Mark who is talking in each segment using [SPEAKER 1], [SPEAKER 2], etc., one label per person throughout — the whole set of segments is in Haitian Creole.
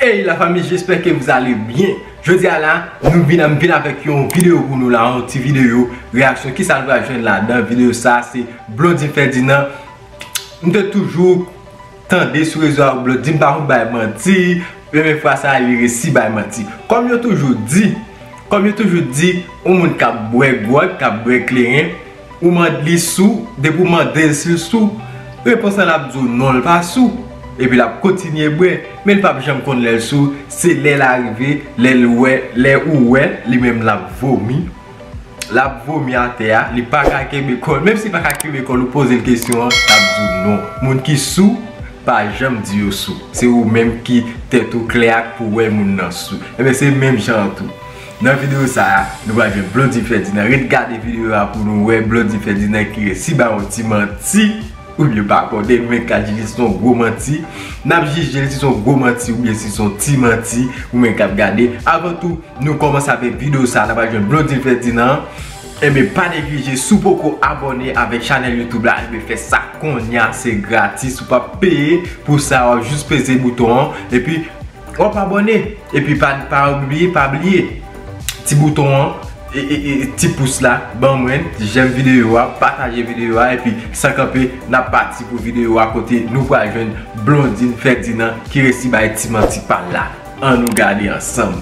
[SPEAKER 1] Hey la fami jesper ke vous ale bien Jodi a la nou vin am vin avek yon video pou nou la yon ti video reaksyon ki sa nou pral jwenn la dan video sa se Blondine Ferdinand M te toujou tande sou rezo a ou blot di m pa konn bay manti e men fwa sa li resi bay manti kòm yo toujou di kòm yo toujou di yon moun kap bwè gwòt kap bwè kleren ou mande li sou depi ou mande l si l sou repons lan lap di w non l pa sou epi lap kontinye bwè men l pap janm konn lè l sou se lè l arive lè l wè lè ou wè li menm lap vomi. Lap vomi atè a, li paka kenbe kòl. Menm si li paka kenbe kòl ou pozel kesyon an, lap di w non. Moun ki sou pa janm di yo sou. Se ou menm ki tèt ou klè ak pou wè moun nan sou. Enben se menm jan an tou. Nan videyo sa a, nou pral jwenn Blondie Ferdinand. Ret gade videyo a pou nou wè Blondie Ferdinand ki resi ba ou ti manti. Ou byen pa kònen men K-Genius son gwo manti. Nap jijel si son gwo manti ou byen si son ti manti ou menm kap gade. Avan tou nou kòmanse avèk video sa la pral jwenn Blondine Ferdinand an. Enben pa neglije si w poko abòne avèk chanèl YouTube la enben fè sa konnya se gratis ou pap peye pou sa wap jis peze bouton an epi Wap abone epi pa pa bliye pa bliye ti bouton an ti pous la ban mwen jèm videyo a pataje videyo a epi san kanpe nap pati pou videyo a kote nou pral jwenn Blondine Ferdinand ki resi bay ti manti pal la an nou gade ansanm.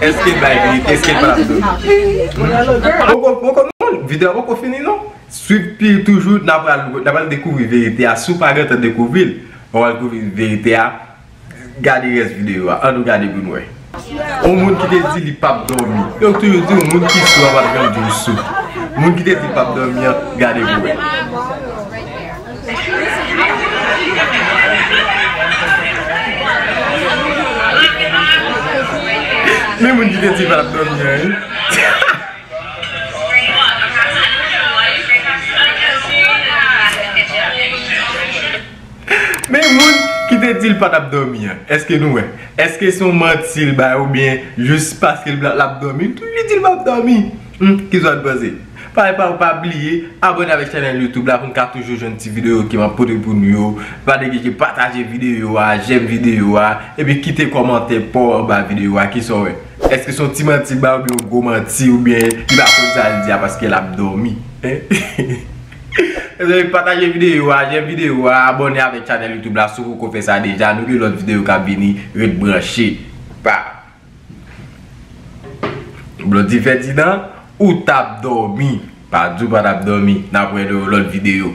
[SPEAKER 1] Eske bay verite eske pa ap domi. Video a poko fini non. Swiv pi toujou nan pral dekouvri verite a. Si w pa gentan dekouvri l, wap al dekouvri verite a. Gade res video a. An nou gade pou nou wè. Yon moun ki te di li pap domi. Yo toujou di w moun ki sou an pap janm di w sou. Moun ki te di l pap domi an gade pou wè. Men moun ki gen ti va ap dòmi an wi. Men moun ki te di l pa t ap dòmi an. Eske nou wè? Eske se yon manti l bay oubyen jis paske l ap dòmi. Li di l pa ap dòmi. Humm ki zwa dbanze. Pa epa pa bliye abone avek chanel youtube la poun ka toujou jwenn ti video ke map pote pou nou yo pa neglije pataje video a jèm video a epi kite komantè paw anba video a kisaw wè eske son ti manti l bay oubyen yon gwo manti oubyen li pa konn sa l di a paske lap domi mezanmi pataje video a jèm video a abone avek chanel youtube la si w poko fè sa deja nou gen lot video kap vini ret branche pa. Blondie Ferdinand ou tap domi. Pa di w pa tap domi. Nap wè nan yon lòt videyo.